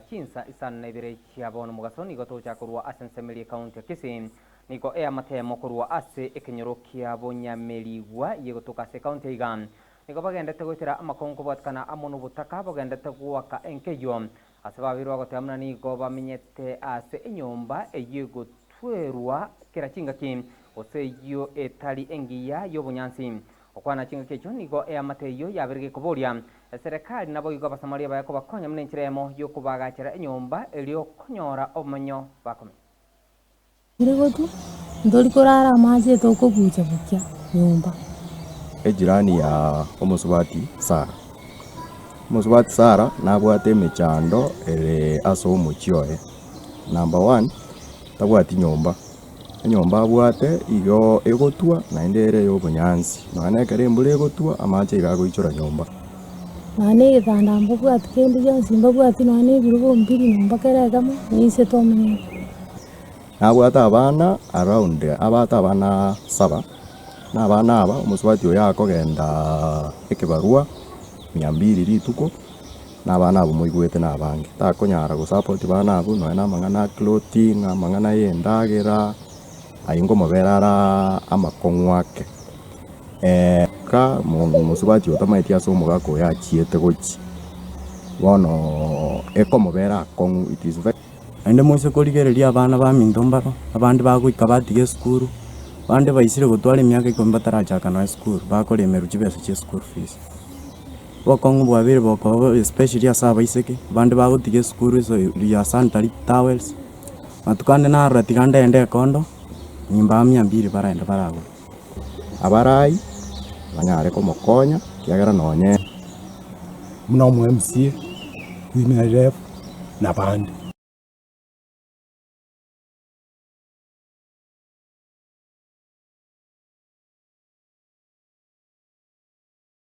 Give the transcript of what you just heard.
Chinsa isano na ibere chiabo nomogaso nigo togocha korwa ase ensemirie y'Ekaunti ya Kisii. Nigo eamatemo korwa ase ekenyoro kia bonyamerigwa yegotoka ase ekaunti aiga. Nigo bagendete goetera amakongo kobwatekana amo nobotaka bogendete goaka enka eyio. Ase babeirwe bagoteba muna nigo bamenyete ase enyomba eyio egotwerwa kera chingaki gose eyio etari engiya y'obonyansi. Okwana chingaki echio nigo eamate eyio yaberige ekoboria Eserekari naboigo Abasamaria baye kobakonya buna enchera eyemo y'okobaagachera enyomba eria okonyora obomenyo bakomenya. Tiri gotwa, ntori korara amache tokobuucha bokia nyomba. Ejirani ya omosubati Sara. Omosubati Sara nabwate emechando ere as'omochie oye. Number one, tabwati nyomba. enyomba abwate igo egotwa naende ere ey'obonyansi, nonya ekero embura egotwa amache iga agoichora nyomba. Nonya na egetanda mbabwati kende gionsi mbabwati nonya na ebirogo mbiri nyomba kera egemo ninse tomenyete. Nabwate abana around abwate abana saba, na abana aba omosubati oyo akogendaaa ekebarwa mia mbiri rituko. Nabana abwo moigwete nabange, takonyara gosapoti bana abwo nonya namang'ana a clothing, amang'ana y'endagera, ayio ngomobera ara amakong'u ake. Ka omosubati otamaeti ase omogaka oyo achiete gochia, bono ekomobera akong'u, it is very. Naende moise korigereria abana baminto mbaro, abande bagoika batiga esukuru, bande baisire gotwara emiaka ikomi batarachaka nonya esukuru, bakora emeru chibesa chie school fees. Obokong'u bwabere bokoba bobe especially ase abaiseke, bande bagotiga esukuru iso ya sanitary towels, matuko ande narora tiga ndende ekondo, nimbaha mia mbiri barende baragure. Abarai banyare komokonya ekiagera nonye buna omo mca, women rep na bande.